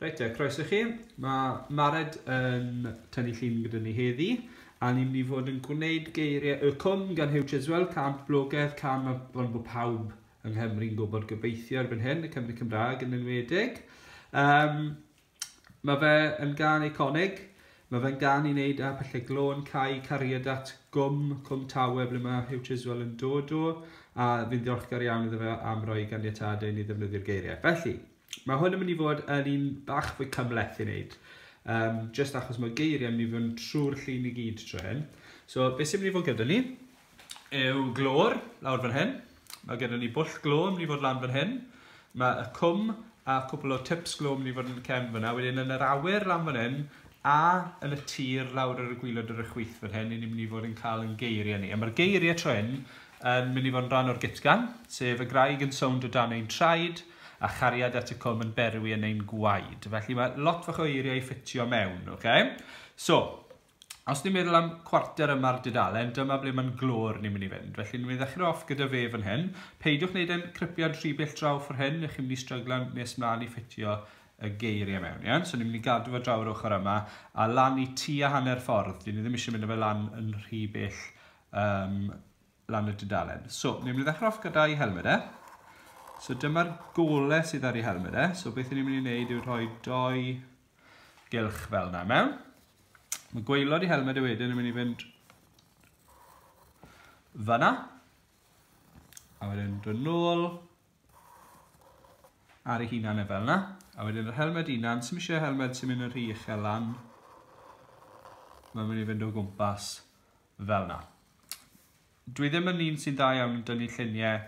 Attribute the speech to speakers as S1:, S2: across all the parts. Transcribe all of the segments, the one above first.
S1: Reit te, croeso chi. Mae Mared yn tynnu llun gyda ni heddi, a ni'n mynd i fod yn gwneud geiriau y cwm gan Hugh Chiswell, cam poblogaidd, cam ond bod pawb yng Nghymru'n gwybod gobeithio erbyn hyn, y Cymru Cymraeg yn enwedig. Um, Mae fe yn gan eiconig, mae fe'n gan i wneud â pyllau glôn, cae, cariad at gwm Cwm Tawe ble mae Hugh Chiswell yn dod o, a fi'n ddiolchgar iawn iddo fe am roi ganiatad i ni ddefnyddio'r geiriau. Felly, mae hwn yn mynd i fod yn un bach fwy cymleth i wneud, um, just achos mae geiriau yn mynd i fod yn trwy'r llun i gyd tro hyn. So, beth sy'n mynd i fod gyda ni? yw glor lawr fan hyn. Mae gennym ni bwll glo yn mynd i fod lan fan hyn. Mae y cwm a cwpl o tips glo yn mynd i fod yn y cefn fyna. Wedyn yn yr awyr lan fan hyn a yn y tir lawr ar y gwylod ar y chwith fan hyn, ni'n mynd i fod yn cael yn geiriau ni. A mae'r geiriau tro hyn yn mynd i fod yn rhan o'r gytgan, sef y graig yn sownd o dan ein traed a chariad at y cwm yn berwi yn ein gwaed. Felly mae lot fach o eiriau i ffitio mewn, oce? Okay? So, Os ni'n meddwl am cwarter yma'r dudalen, dyma ble mae'n glor ni'n mynd i fynd. Felly ni'n mynd i ddechrau off gyda fe fan hyn. Peidiwch wneud e'n cripiad rhy bell draw ffwr hyn, neu chi'n mynd i stryglan nes mlaen i ffitio y geiriau mewn. Iawn? So ni'n mynd i gadw fo draw yr ochr yma, a lan i tu a hanner ffordd. Dyn ni ddim eisiau mynd â fe lan yn rhy bell um, lan y dudalen. So, ni'n mynd i ddechrau off gyda'i helmed e. So dyma'r gole sydd ar ei helmed e. So beth ni'n mynd i wneud yw rhoi doi gylch fel yna mewn. Mae gweilod i helmed y wedyn yn mynd i fynd fyna. A wedyn dod nôl ar ei hunan e fel yna. A wedyn yr helmed unan, sy'n eisiau helmed sy'n mynd yn rhy uchel lan. Mae'n mynd i fynd o gwmpas fel 'na. Dwi ddim yn un sy'n dda iawn yn dynnu lluniau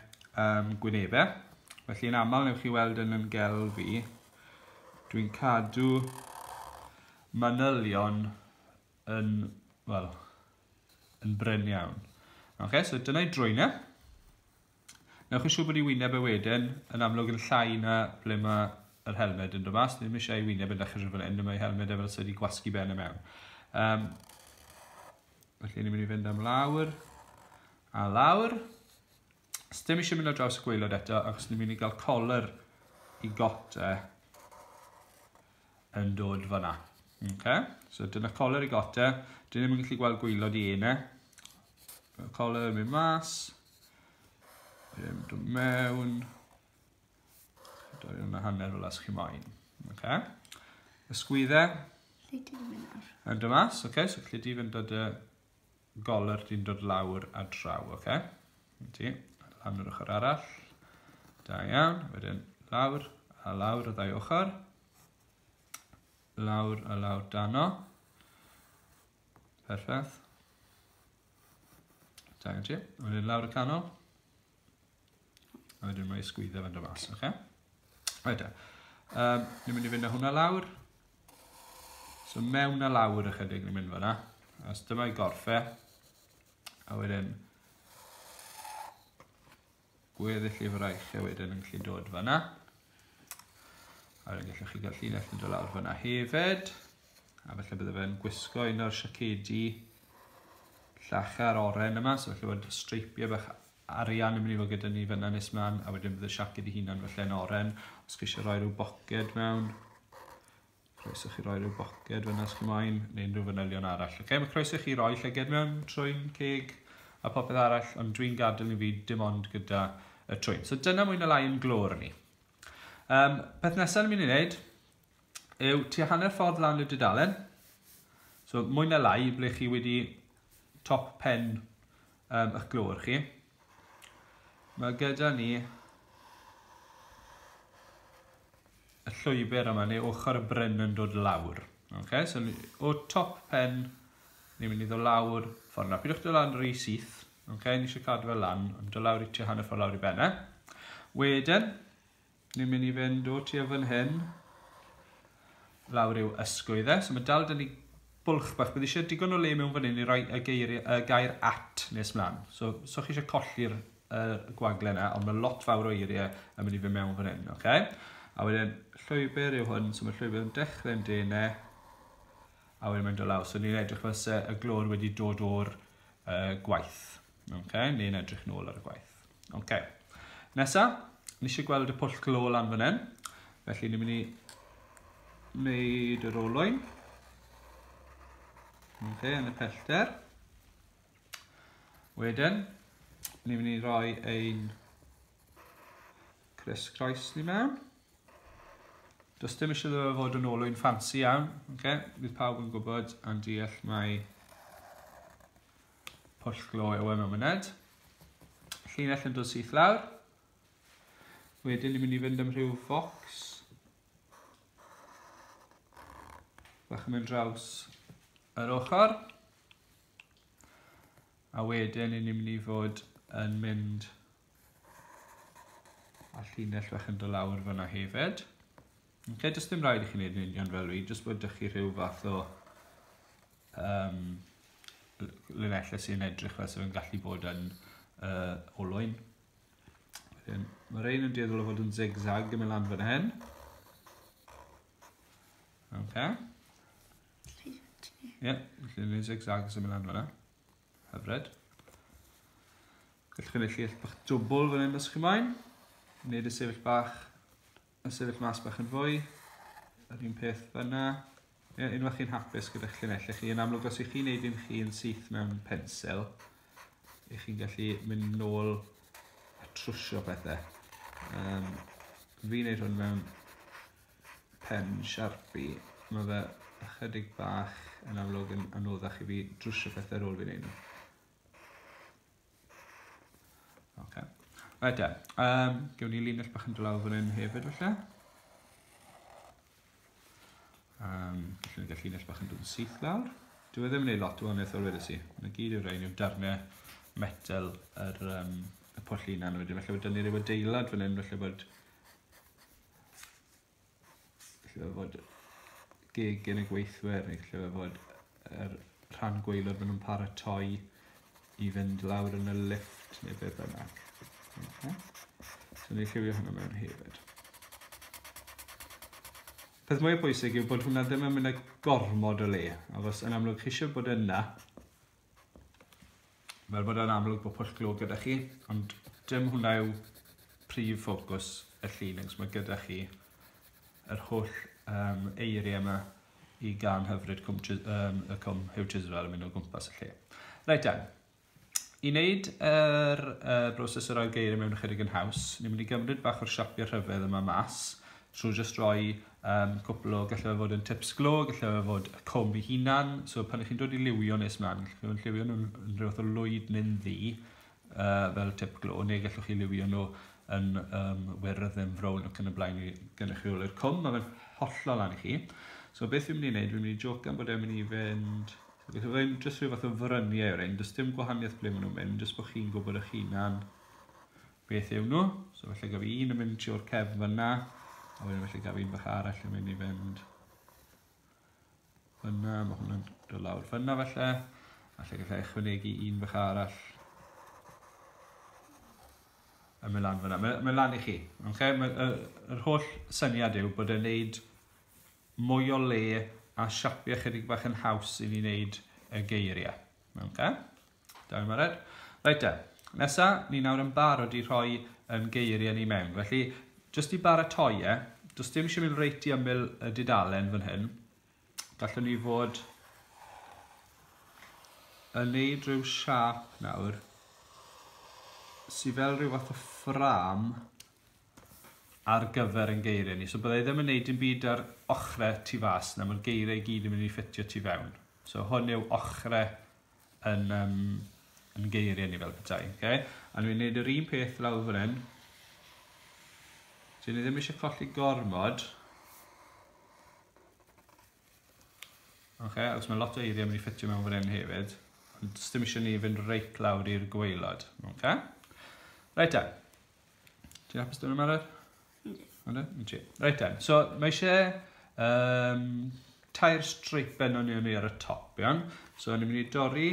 S1: um, gwynebau, felly yn aml newch chi weld yn ymgelf fi, dwi'n cadw manylion yn, wel, yn bryn iawn. Ok, so dyna'i drwynau. Newch yn siŵr bod ei wyneb e wedyn yn amlwg yn llai na ble mae yr helmed yn dod mas. Ddim eisiau ei wyneb yn dechrau fel hyn, mae helmed e fel sydd wedi gwasgu ben y mewn. Um, felly ni'n mynd i fynd am lawr a lawr. Os dim eisiau mynd ar draws y gweilod eto, achos ni'n mynd i gael color i gota yn dod fanna. Okay? So dyna color i gota. Dyn ni'n mynd i gallu gweld gweilod i enau. Color yn mynd mas. Ddim dod mewn. Doi yn y hanner fel as chi moyn. Okay. Ysgwydde. Lle di ddim yn nawr? Yn dy mas, oce. Okay. So lle di fynd dod y goler di'n dod lawr a draw, oce. Okay. Ti, lan yr ochr arall. Da iawn, wedyn lawr a lawr y ddau ochr. Lawr a lawr dano. Perffaith. Da gen ti. A wedyn lawr y canol. A wedyn mae sgwydda fan do mas, oce? Okay? Rhaid e. Um, ni'n mynd i fynd â hwnna lawr. So mewn a lawr ychydig ni'n mynd fanna. A dyma i gorffe. A wedyn... Gweddill y fraich hefyd yn gallu dod fanna. A wedyn gallwch chi gael llinell yn dod lawr fanna hefyd. A felly bydde fe'n gwisgo un o'r siacedi llachar oren yma, so felly bod streipiau bach arian yn mynd i fod gyda ni fyna nes mlaen, a wedyn bydd y siaced i hunan felly'n oren. Os chi eisiau rhoi rhyw boced mewn, Croeso chi roi rhyw boced fyna os chi moyn, neu unrhyw fanylion arall. Ok, mae croeso chi roi llyged mewn trwy'n ceg a popeth arall, ond dwi'n gadael i fi dim ond gyda y trwyn. So dyna mwy na lai yn glor ni. Um, peth nesaf ni'n mynd i wneud yw tua hanner ffordd lan y dudalen. So mwy na lai ble chi wedi top pen um, eich glor chi. Mae gyda ni y llwybr yma, neu ochr y bryn yn dod lawr. Ok, so o top pen, ni'n mynd i ddod lawr ffordd yna. Pidwch dod lawr rhy syth, ok, ni eisiau cadw fe lan, ond dod lawr i ti hanner ffordd lawr i benne. Wedyn, ni'n mynd i fynd o ti o fan hyn, lawr i'w ysgwydd e. So mae dal dyn ni bwlch bach, bydd eisiau digon o le mewn fan hyn i roi y, geir, y gair at nes mlaen. So, so chi eisiau colli'r y gwagle yna, ond mae lot fawr o eiriau yn mynd i fy mewn fan hyn, oce? Okay? A wedyn, llwybr yw hwn, so mae llwybr yn dechrau'n dene, a wedyn mae'n dod lawr. So ni'n edrych fel se y glor wedi dod o'r uh, gwaith, oce? Okay? Ni'n edrych nôl ar y gwaith. Oce. Okay. Nesa, ni eisiau gweld y pwll glo lan fan hyn, felly ni'n mynd i wneud yr olwyn. Oce, okay, yn y pellter. Wedyn, ni'n mynd i roi ein Chris Croes ni mewn. Does dim eisiau ddefa fod yn olwyn ffansi iawn. Okay? Bydd pawb yn gwybod a'n deall mae pwll glo yw e mewn myned. Llinell yn dod syth lawr. Wedyn ni'n mynd i fynd am rhyw focs. Bach yn mynd draws yr ochr. A wedyn ni'n mynd i fod yn mynd a llinell fach yn dod lawr fyna hefyd. Okay, does dim rhaid i chi wneud yn union fel fi, jyst bod ydych chi rhyw fath o um, linellau sy'n edrych fel sy'n gallu bod yn uh, olwyn. Wedyn, mae'r ein yn dueddol o fod yn zigzag yn mynd lan fan hyn. Okay. Ie, yeah, felly ni'n zigzag sy'n mynd lan fyna. Hyfred. Gallwch chi wneud lleill bach dwbl fan hyn os chi moyn. Wneud y sefyll bach, y sefyll mas bach yn fwy. Yr un peth fyna. Ie, yeah, unwaith chi'n hapus gyda'ch llinellau chi, yn amlwg os ych chi'n neud un chi'n syth mewn pensel, ych chi'n gallu mynd nôl a trwsio pethau. Um, fi'n neud hwn mewn pen sharpie ma' fe ychydig bach yn amlwg yn anoddach i fi drwsio pethau ar ôl fi neud nhw. Ok. Right then, um, gewn ni linell bach yn dolaw fan hyn hefyd falle. Um, felly ni'n gallu linell bach yn dod yn syth lawr. Dwi e ddim yn ei lot o wahaniaeth o'r wedes i. Mae'n gyd yw'r rhain yw'r darnau metal yr, um, y pwll unan wedyn. Felly bod dynnu rhyw adeilad fan hyn, felly bod Felly fe fod gig yn y gweithwyr neu lle fe fod yr rhan gwaelod maen nhw'n paratoi i fynd lawr yn y lift neu be bynnag. Okay. So ni'n lliwio hwnna mewn hefyd. Peth mwyaf pwysig yw bod hwnna ddim yn mynd â gormod o le, achos yn amlwg chi eisiau bod yna Fel bod e'n amlwg bod pwll glo gyda chi, ond dim hwnna yw prif ffocws y llun, achos mae gyda chi yr holl um, eiriau yma i gan hyfryd cwm, um, y cwm Hugh Chiswell yn mynd o gwmpas y lle. Reit dan, i wneud yr uh, broses o roi geiriau mewn ychydig yn haws, ni'n mynd i gymryd bach o'r siapio rhyfedd yma mas, trwy jyst roi Yym, cwpl o, gallai fe fod yn tips glo, gallai fe fod y cwm ei hunan, so pan ych chi'n dod i liwio nes mlaen, gallwch chi fod yn lliwio nhw'n rhyw fath o lwyd neu'n ddu, uh, fel tip glo, neu gallwch chi liwio nhw yn um, wyrdd yn frown ac yn y blaen i gynrychioli'r cwm, mae fe'n hollol lan i chi. So beth fi'n mynd i wneud, fi'n mynd i joc am bod e'n mynd i fynd... Beth yw'n mynd jyst rhyw fath o fryniau o'r ein, does dim gwahaniaeth ble maen nhw'n mynd, jyst bod chi'n gwybod eich hunan beth yw nhw. So felly gaf un yn mynd trwy'r cefn fyna, a wedyn felly gaf un fach arall yn mynd i fynd fyna, mae hwnna'n dod lawr fyna felly, a lle gallai ychwanegu un fach arall yn mynd lan fyna. Mae'n mae lan i chi. Okay? Mae, yr, yr holl syniad yw bod e'n neud mwy o le a siapio chydig bach yn haws i ni wneud y geiriau. Okay? Don't worry about it. Reit te, nesa, ni nawr yn barod i rhoi yn geiriau ni mewn. Felly, jyst i baratoi e, does dim eisiau mynd reit i ymyl y dudalen fan hyn. Gallwn ni fod yn neud rhyw siap nawr sydd fel rhyw fath o ffram ar gyfer yn geiriau ni. So byddai ddim yn neud yn byd ar ochrau tu fas na, mae'r geiriau i gyd yn mynd i ffitio tu fewn. So hwn yw ochrau yn um, yn geiriau ni fel petai. Okay? A dwi'n gwneud yr un peth lawr fan hyn. Dwi'n ddim eisiau colli gormod. Okay, achos mae lot o eiriau mynd i ffitio mewn fan hyn hefyd. Ond ddim eisiau ni fynd reit lawr i'r gweilod. Okay? Reit da. Ti'n hapus dyn nhw'n meddwl? Reit den, so mae eisiau um, tair streipen o'n ni ar y top, iawn? So ni'n mynd i dorri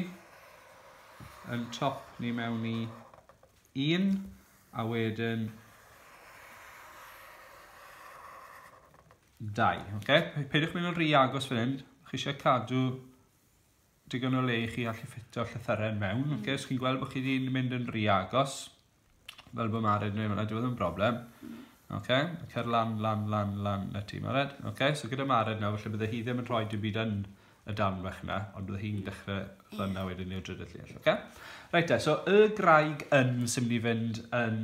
S1: yn top ni mewn i un, a wedyn dau. Okay? Peidiwch mynd yn rhy agos fan hyn, chi eisiau cadw digon o le i chi allu ffitio llythyrau mewn. Mm. Okay? So chi'n gweld bod chi wedi mynd yn rhy agos. Fel bo Mari 'di neud hwnna dyw e ddim yn broblem. Oce? Cer lan lan lan lan 'na ti Mared. Oce? So gyda Mared nawr felly bydde hi ddim yn rhoi dim byd yn y darn fach 'na ond bydde hi'n dechre fan 'na wedyn i'r drydydd llun oce? Reit te so y graig yn sy'n mynd i fynd yn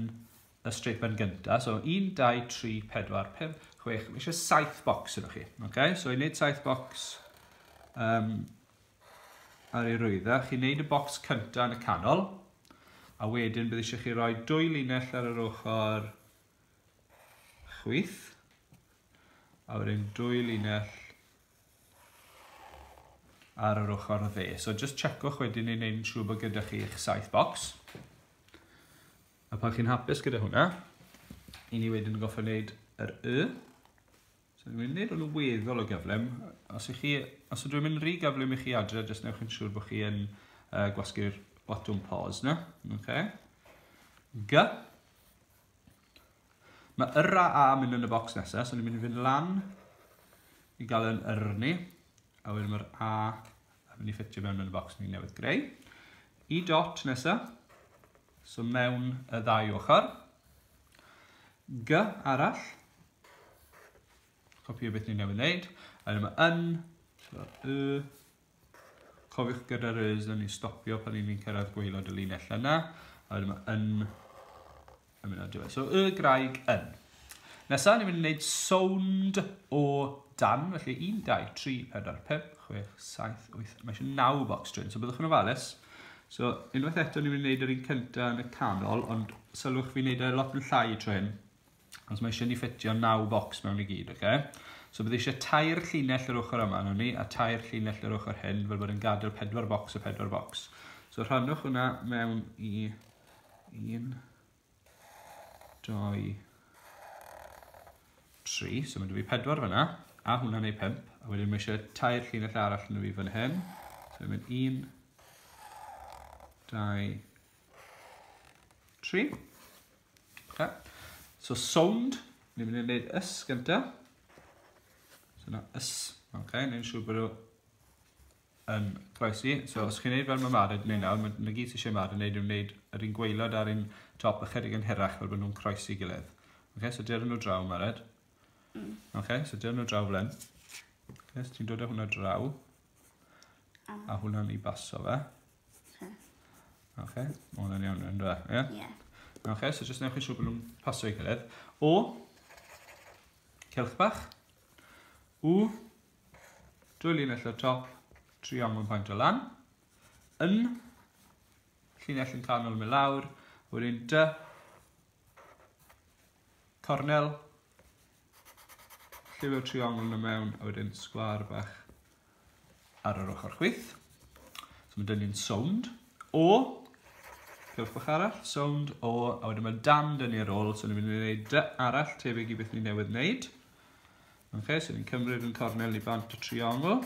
S1: y strip yn gynta. So 1 2 3 4 5 6 mae eisiau 7 bocs yno chi. Oce? So i wneud 7 bocs um, ar ei rwydda. Chi'n neud y bocs cynta yn y canol, a wedyn bydd eisiau chi roi dwy linell ar yr ochr chwith, a wedyn dwy linell ar yr ochr dde. So just checwch wedyn i wneud yn siŵr bod gyda chi eich saith bocs. A pan chi'n hapus gyda hwnna, i ni wedyn yn goffa wneud yr Y. So dwi'n gwneud o'n weddol o gyflym. Os, chi, os ydw i'n mynd rhy gyflym i chi adre, jyst newch yn siŵr bod chi yn uh, gwasgu'r botwm pause na. Okay. G. Mae yr a a mynd yn y bocs nesaf, so ni'n mynd i fynd lan i gael yn yr ni. A wedyn mae'r a yn mynd i ffitio mewn yn y bocs ni newydd greu. I dot nesaf, so mewn y ddau ochr. G arall, Copio beth ni newydd wneud. A wedyn mae yn, so y, cofiwch gyda'r ys yn ni stopio pan ni'n cyrraedd gweilod y linell yna. A wedyn mae yn, yn mynd ar diwedd. So y graig yn. Nesaf, ni'n mynd i wneud sound o dan, felly 1, 2, 3, 4, 5, 6, 7, 8, mae eisiau 9 box train, so byddwch yn ofalus. So, unwaith eto ni'n mynd i wneud yr un cyntaf yn y canol, ond sylwch fi'n wneud e lot yn llai train, Os mae eisiau ni ffitio 9 focs mewn i gyd, oce? Okay? So bydd eisiau tair llinell yr ochr yma nhw ni, a tair llinell yr ochr hyn, fel bod yn gadael pedwar bocs a pedwar bocs. So rhannwch hwnna mewn i 1, 2, 3. So mae dwi fi pedwar fyna, a hwnna neu 5. A wedyn mae eisiau tair llinell arall yn y fi fan hyn. So mae'n 1, 2, 3. Okay. So sound, ni'n mynd i wneud ys gyntaf. So na ys, oce, okay, ni'n siŵr bod o yn croesi. So os chi'n gwneud fel mae Mara yn gwneud nawr, mae na gyd sy'n eisiau Mara yn gwneud yw'n gwneud yr un gweilod ar un top ychydig yn hirach fel bod nhw'n croesi gilydd. Oce, okay, so dyrwn nhw draw, Mared. Mm. Oce, okay, so dyrwn nhw draw fel hyn. Oce, okay, so ti'n dod â hwnna draw. A hwnna'n i baso fe. Oce. Oce, ma' hwnna'n iawn rwan, do e? Ie. Ie. Oce, so jyst newch yn siŵr bod nhw'n pasio i gilydd. O, celch bach. U, dwy linell o'r top, triongl paint o lan. Yn, llinell yn canol mynd lawr, wedyn dy, cornel, Lliwio triongl na mewn a wedyn sgwar bach ar yr ochr chwith. So mae dynnu'n sownd o, cewch bach arall, sownd o, a wedyn mae dan dynnu ar ôl, so ni'n mynd i wneud dy arall tebyg i beth ni newydd wneud. Okay, so ni'n cymryd yn cornel i bant y triongl,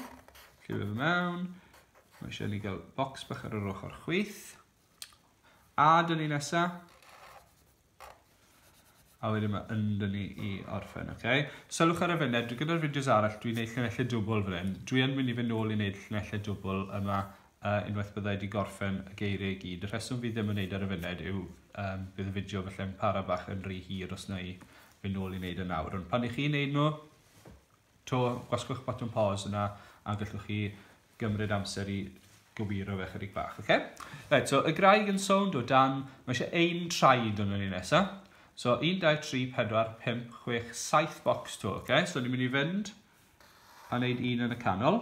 S1: lliwio fe mewn, mae eisiau ni gael bocs bach ar yr ochr chwith, A dyn ni nesa. A wedyn mae yn dyn ni i orffen, oce? Okay? Sylwch ar y funud, dwi gyda'r fideos arall, dwi'n neud llunellau dwbl fan hyn. Dwi yn mynd i fynd nôl i neud llunellau dwbl yma uh, unwaith byddai wedi gorffen y geiriau i gyd. Y rheswm fi ddim yn neud ar y funud yw um, bydd y fideo felly'n para bach yn rhy hir os na i fynd nôl i neud y nawr. Ond pan i chi'n neud nhw, 'to gwasgwch botwm pause yna a gallwch chi gymryd amser i gywiro fe chydig bach, oce? Right, so y graig yn sownd o dan, mae eisiau ein traed yn ni nesa. So 1, 2, 3, 4, 5, 6, 7 bocs to, oce? So ni'n mynd i fynd a wneud un yn y canol.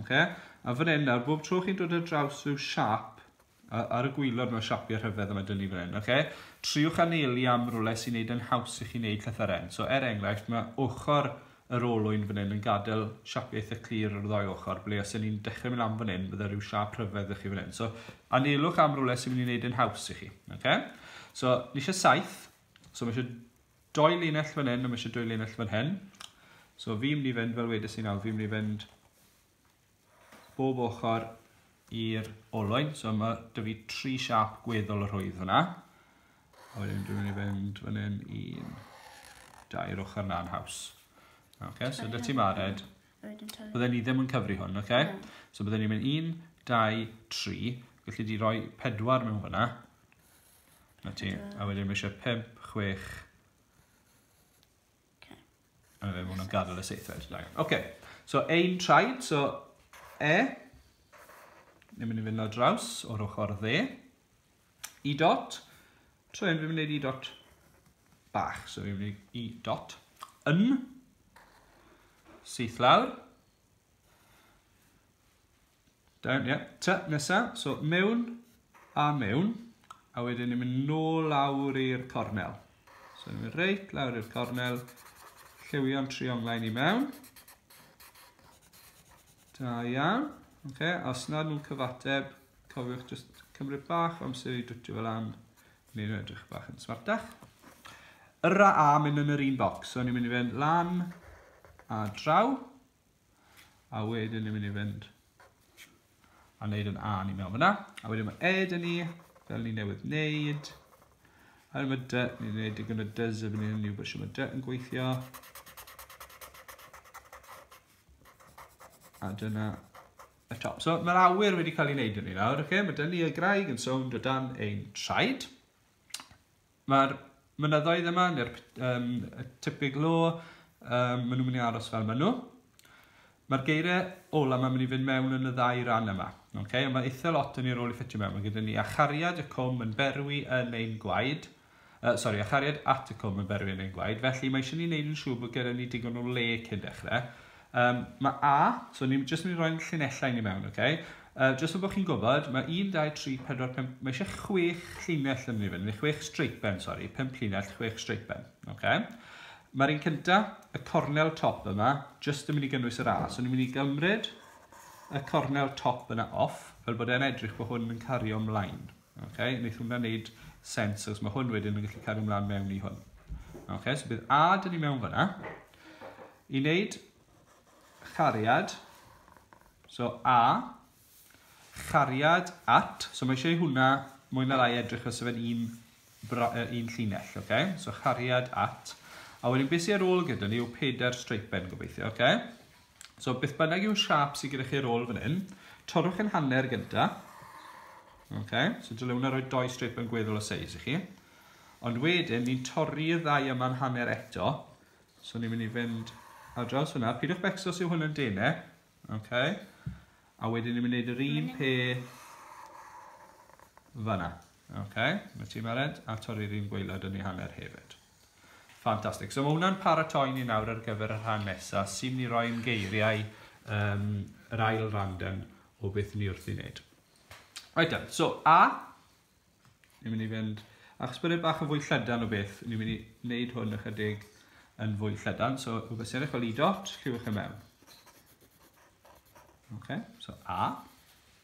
S1: Oce? A fan hyn nawr, bob tro chi'n dod ar draws rhyw siap, Ar y gwylod mewn siapiau rhyfedd yma dynnu fan hyn, oce? Triwch anelu am rwle sy'n neud yn haws i chi neud llythyren. So er enghraifft, mae ochr yr olwyn fan hyn yn gadael siapiau eitha clir ar y ddau ochr, ble os y'n ni'n dechrau mynd am fan hyn, bydde rhyw siap rhyfedd ddech chi fan hyn. So anelwch am rwle sy'n mynd i neud yn haws i chi, oce? So ni eisiau saith, so mae eisiau doi linell fan hyn, a mae eisiau doi linell fan hyn. So fi'n mynd i fynd, fel wedes i nawr, fi'n mynd i fynd bob ochr i'r olwyn. So mae dy fi tri siap gweddol y rhwydd fyna. A wedyn dwi'n mynd i fynd fan hyn i'n dair ochr na'n haws. Okay, so dy ti mared. Bydden ni ddim yn cyfri hwn, okay? So bydden ni'n mynd un, dau, tri. Felly di roi pedwar mewn fyna. Na ti. A wedyn mae eisiau pimp, chwech, Okay. A fe mwyn nhw'n gadael y seithfed. Ok, so ein traed, so e, ni'n mynd i fynd o draws o'r ochr dde. I dot, so e'n mynd i wneud i dot bach, so fi'n mynd i dot. Yn, syth lawr, Down, ie. Yeah. Ta, nesa. So, mewn a mewn. A wedyn ni'n mynd nôl lawr i'r cornel. So, ni'n mynd reit lawr i'r cornel. Lliwio'n trionglau ni mewn. Da iawn. Okay, a os nad nhw'n cyfateb, cofiwch just cymryd bach amser i dwtio fel am. Ni'n edrych bach yn smartach. Yr a mynd yn yr un bocs. So ni'n mynd i fynd lan a draw. A wedyn ni'n mynd i fynd a wneud yn A ni mewn fyna. A wedyn mae E dyn ni, fel ni newydd wneud. A wedyn mae D, ni'n gwneud digon o dyz a ni'n gwybod sy'n mae D yn gweithio. A dyna y top. So mae'r awyr wedi cael ei wneud yn ni nawr. Okay? Mae dyn ni y graig yn sownd o dan ein traed. Mae'r mynyddoedd yma, neu'r um, tipping law, um, maen nhw'n mynd i aros fel maen nhw. Mae'r geiriau ola mae'n mynd i fynd mewn yn y ddau ran yma. Okay? Ond mae eitha lot yn ei rôl i ffitio mewn. Mae gyda ni achariad y cwm yn berwi yn ein gwaed. Uh, sorry, achariad at y cwm yn berwi yn ein gwaed. Felly mae eisiau ni wneud yn siŵr bod gyda ni digon o le cyn dechrau. Um, mae A, so ni'n just mynd i roi'n llinellau ni mewn, oce? Okay? Uh, just so bod chi'n gwybod, mae 1, 2, 3, 4, 5, mae eisiau 6 llinell yn mynd i fynd, neu 6 streipen, sori, 5 llinell, 6 streipen, oce? Okay? Mae'r un cynta, y cornel top yma, jyst yn mynd i gynnwys yr A. So ni'n mynd i gymryd y cornel top yna off, fel bod e'n edrych bod hwn yn cario ymlaen. Ok, wneith hwnna wneud sens, os mae hwn wedyn yn gallu cario ymlaen mewn i hwn. Ok, so bydd A dyn ni mewn fyna. I wneud chariad, so A, chariad at, so mae eisiau hwnna mwy na lai edrych os yfed un, un llinell, ok? So chariad at. A wedyn beth sy'n ar ôl gyda ni yw pedair streipen gobeithio, ok? So beth bynnag yw'r siap sydd gyda chi'r ôl fan hyn, torrwch yn hanner gyda. Okay. So dylai hwnna roi doi strip yn gweddol o seis i chi. Ond wedyn, ni'n torri y ddau yma'n hanner eto. So ni'n mynd i fynd ar draws hwnna. Pidwch becso sy'n hwn yn denau. Okay. A wedyn ni'n mynd i wneud yr un pe fanna. Okay. Mae ti'n mared a torri'r un gweilad yn ei hanner hefyd. Ffantastig. So mae hwnna'n paratoi ni nawr ar gyfer y rhan nesaf, sy'n ni roi yn geiriau um, yr ail randen o beth ni wrth i wneud. Right then, so A, ni'n mynd i fynd, achos bod e bach yn fwy llydan o beth, ni'n mynd i wneud hwn ychydig yn fwy llydan, so o beth sy'n eich fel i dot, lliwch y e mewn. Okay, so A.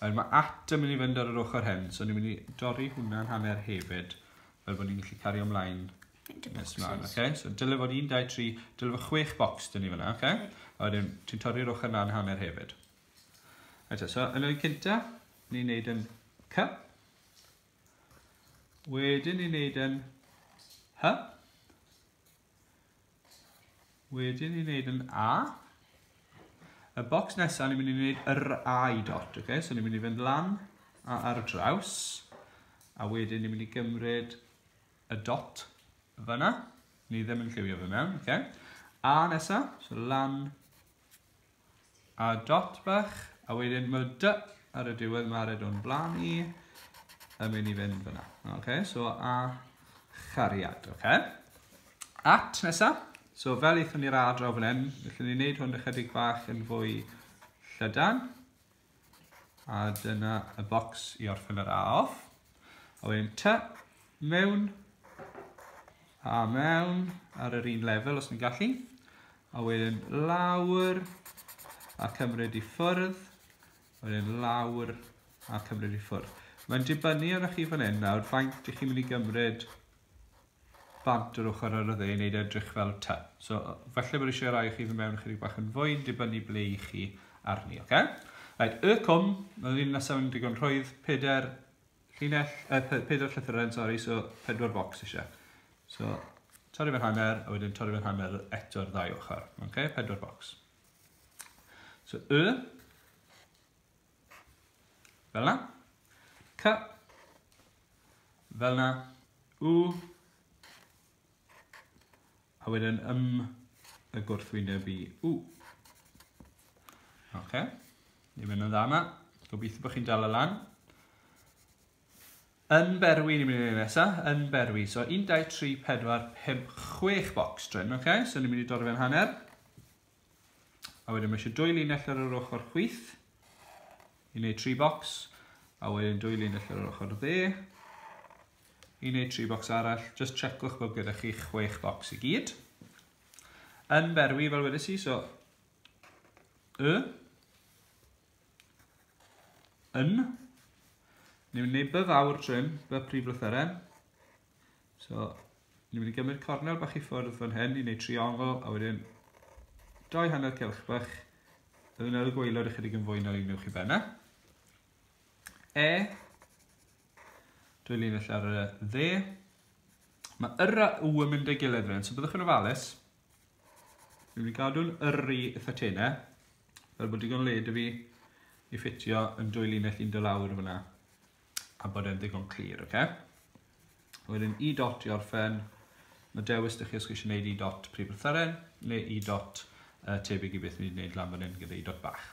S1: Rhaid, mae at yn mynd i fynd ar yr ochr hen, so ni'n mynd i dorri hwnna'n hanner hefyd, fel bod ni'n gallu cario ymlaen nes mlaen, oce? Okay? So dyle fod 1, 2, 3, dyle fod 6 bocs dyn ni fyna, oce? Okay? A wedyn, ti'n torri'r ochr na'n hanner hefyd. Eto, so yn oed cynta, ni'n neud yn C. Wedyn ni'n neud yn H. Wedyn ni'n neud yn A. Y bocs nesaf ni'n mynd i wneud yr A i dot, oce? Okay? So ni'n mynd i fynd lan a ar draws. A wedyn ni'n mynd i gymryd y dot fyna. Ni ddim yn lliwio fe mewn, oce? Okay? A nesaf, so lan A dot bach, a wedyn mae dy ar y diwedd, mae red o'n blaen i, yn mynd i fynd fyna. Ok, so a chariad, ok? At nesa, so fel eithon ni'r adro fan hyn, felly ni'n neud hwn ychydig bach yn fwy llydan. A dyna y bocs i orffen yr A off. A wedyn ty, mewn, a mewn, ar yr un lefel os ni'n gallu. A wedyn lawr, a cymryd i ffwrdd. A wedyn lawr, a cymryd i ffwrdd. Mae'n dibynnu arnoch chi fan hyn nawr, faint ych chi'n mynd i gymryd bant yr ochr ar y dde i wneud e edrych fel T. So, falle bod eisiau rhai chi fy mewn chydig bach yn fwy, dibynnu ble i chi arni, oce? Okay? Right, y cwm, mae'r un nesaf yn digon rhwydd, peder llinell, eh, peder llythyren, sori, so pedwar bocs eisiau. So, torri fe'n hanner, a wedyn torri fe'n hanner eto'r ddau ochr, oce? Okay? Pedwar bocs. So, y, Fel na. C. Fel na. U. A wedyn ym y gwrthwyneb i u. Ok. Ni'n mynd yn dda yma. Gobeithio bod chi'n dal y lan. Yn berwi, ni'n mynd i'n nesaf, yn berwi. So 1, 2, 3, 4, 5, 6 box drin, ok? So ni'n mynd i dorri fe'n hanner. A wedyn mae eisiau dwy linell ar yr ochr chwith i wneud tri bocs. A wedyn dwy linell ar yr ochr dde i wneud tri bocs arall. Just checkwch bod gyda chi chwech bocs i gyd. Yn berwi fel wedi si, so y, yn, ni'n mynd i wneud by fawr trim, by prif lythyren, So, ni'n mynd i gymryd cornel bach i ffwrdd fan hyn i wneud triongl, a wedyn dau hanner cylch bach. Byddwn ar y gweilod ychydig yn fwy na un ewch i benna. E, dwy linell ar y dde. Mae yr a u yn mynd â'i gilydd fan hyn, so byddwch yn ofalus. Ni'n mynd i gadw'n yr i eitha tenau, fel bod digon led i fi i ffitio yn dwy linell un dy lawr fyna. a bod e'n ddigon clir, oce? Okay? Wedyn i dot i orffen, mae dewis ydych chi os chi eisiau gwneud i dot prif lythyren neu i dot uh, tebyg i beth ni'n gwneud lan fan hyn gyda i dot bach.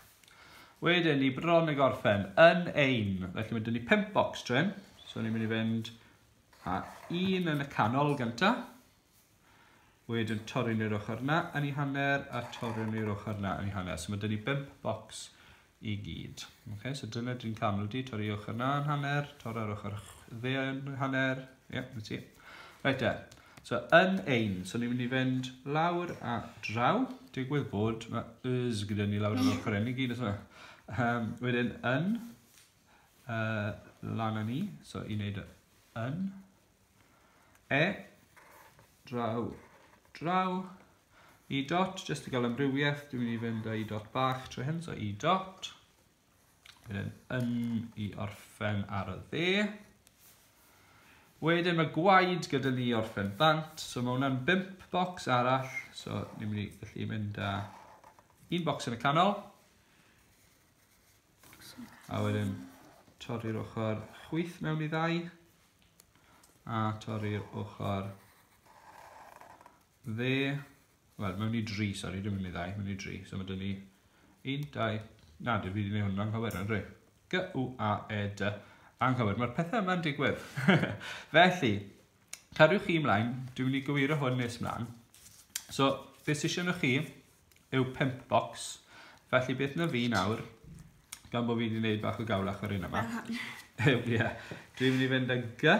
S1: Wedyn ni bron y gorffen yn ein, felly mae dyn ni 5 box trin, so ni'n mynd i fynd a un yn y canol gyntaf, Wedyn torri ni'r ochr na yn ei hanner a torri ni'r ochr na yn ei hanner. So mae dyn ni 5 bocs i gyd. Okay, so dyna dyn camlu di, torri ochr na yn hanner, torri'r ochr dde yn hanner. Ie, yeah, na ti. Reit e. So yn ein, so ni'n mynd i fynd lawr a draw. Digwydd bod, mae ys gyda ni lawr yn ochr enni gyd, yna. Um, wedyn yn, uh, lan â ni, so i wneud yn, E, draw, draw, i dot, jyst i gael amrywiaeth, dwi'n mynd i fynd â i dot bach trwy hyn, so i dot, wedyn yn i orffen ar y dde, Wedyn mae gwaed gyda ni orffen bant, so mae hwnna'n bimp bocs arall, so ni'n mynd i gallu mynd â un bocs yn y canol, A wedyn torri'r ochr chwyth mewn i ddau. A torri'r ochr dde. Wel, mewn i dri, sori, dwi'n mynd i ddau, mewn i dri. So mae dyn ni un, dau, na, dwi wedi gwneud hwnna'n cywir, yn rhaid. G, U, A, E, D, anghywir. Mae'r pethau yma'n digwydd. Felly, cadwch chi ymlaen, dwi'n mynd i gywiro hwn nes ymlaen. So, beth sy'n siarad chi, yw pump bocs. Felly beth na fi nawr, gan bod fi wedi gwneud bach o gawlach ar un yma, yw, ie, yeah, dwi'n mynd i fynd â gy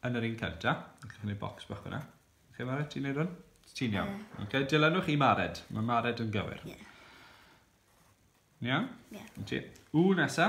S1: yn yr un cynta, yn cynnig bocs bach hwnna. Chi'n mared, ti'n neud hwn? Ti'n iawn. Yeah. Okay, dilynwch i mared, mae mared yn gywir. Ie. Yeah. Iawn? Ie. Yeah. Ti. U nesa.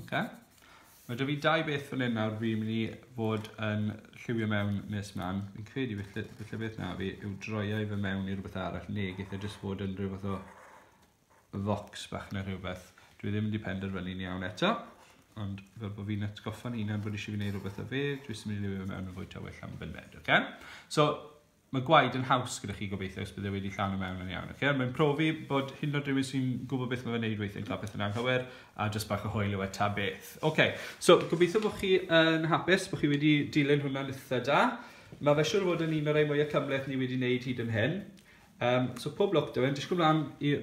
S1: Okay. Mae da fi dau beth fan hyn nawr fi'n mynd i fod yn lliwio mewn nes mlaen. Fi'n credu felly, felly beth na fi yw droiau fe mewn i rhywbeth arall neu geith e jyst fod yn rhywbeth o fox bach neu rhywbeth. Dwi ddim wedi penderfynu'n iawn eto, ond fel bod fi'n atgoffa'n hunan bod eisiau fi wneud rhywbeth o fe, dwi ddim wedi lliwio fe mewn yn fwy tywyll am fyned, oce? Okay? So, Mae gwaed yn haws gyda chi gobeithio os bydd e wedi llawn i mewn yn iawn. Okay? Mae'n profi bod hyn o rhywun sy'n gwybod beth mae'n gwneud weithiau'n cael pethau'n anghywir a jyst bach o hwyl yw e ta beth. Okay. So, gobeithio bod chi yn hapus, bod chi wedi dilyn hwnna'n eitha da. Mae fe siwr fod yn un o'r ei mwyaf cymleth ni wedi wneud hyd yn hyn. Um, so pob lwc da fe, disgwyl mlaen,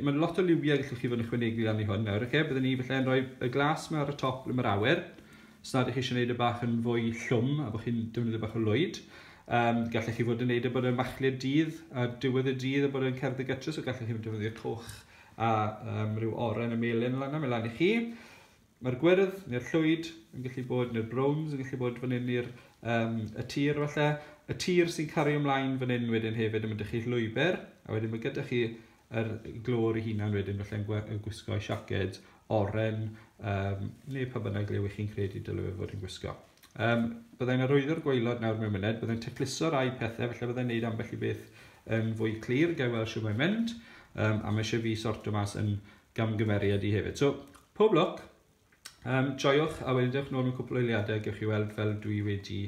S1: mae lot o liwiau gallwch chi fod yn ychwanegu lan i hwn nawr, okay? byddwn ni felly yn rhoi y glas yma ar y top ble mae'r awyr, Os nad ych chi eisiau gwneud y bach yn fwy llwm a bod chi'n defnyddio bach o lwyd, um, gallech chi fod yn gwneud y e bod yn machlud dydd a diwedd y dydd a bod yn cerdd y gytrus, o gallech chi defnyddio coch a um, rhyw oren y melin lan am elan i chi. Mae'r gwyrdd neu'r llwyd yn gallu bod, neu'r browns yn gallu bod fan hyn i'r um, y tir falle. Y tir sy'n cario ymlaen fan hyn wedyn hefyd yn mynd â chi llwybr, a wedyn mae gyda chi yr glor ei hunan wedyn falle'n gwe- yn gwisgo siaced oren um, neu pa bynnag le wych chi'n credu dylai fe fod yn gwisgo. Um, byddai'n arwyddo'r gwaelod nawr mewn myned, byddai'n tecluso rai pethau, felly byddai'n neud ambell i beth yn fwy clir, gael weld sy'n mae'n mynd, um, a mae eisiau fi sorto mas yn gamgymeriad i hefyd. So, pob lwc, um, joiwch, a wedyn dewch nôl mewn cwpl o eiliadau, gewch chi weld fel dwi wedi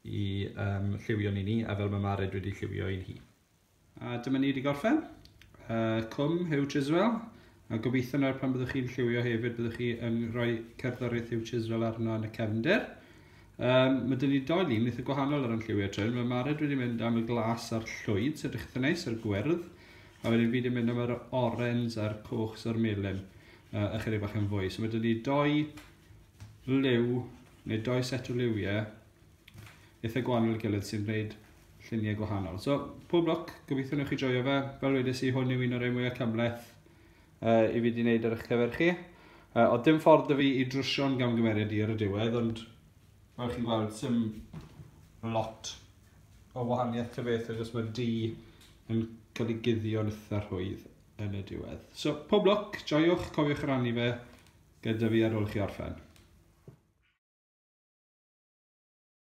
S1: i um, lliwio ni ni, a fel mae Mared wedi lliwio i'n hi. A dyma ni wedi gorffen. Uh, cwm Hugh Chiswell. A gobeithio nawr pan byddwch chi'n lliwio hefyd, byddwch chi yn rhoi cerddoriaeth Hugh Chiswell arno yn y cefnder. Um, mae dyn ni doi lun eitha gwahanol ar yn lliwio trin. Mae Mared wedi mynd am y glas a'r llwyd, sy'n edrych eitha neis, a'r gwyrdd. A wedyn fi wedi mynd am yr orens a'r coch sy'r melyn, uh, ychydig bach yn fwy. So mae dyn ni doi liw, neu doi set o liwiau, eitha gwahanol i gilydd sy'n gwneud lluniau gwahanol. So, pob lwc, gobeithio newch chi joio fe. Fel wedys i, hwn yw un o'r ei mwyaf cymleth uh, i fi wedi gwneud ar eich cyfer chi. Uh, oedd dim ffordd y fi i drwsio'n gamgymeriad i ar y diwedd, ond fel chi'n gweld, sy'n lot o wahaniaeth ta beth, achos mae'r di yn cael ei guddio'n eitha rhwydd yn y diwedd. So, pob lwc, joiwch, cofiwch rannu fe, gyda fi ar ôl i chi orffen.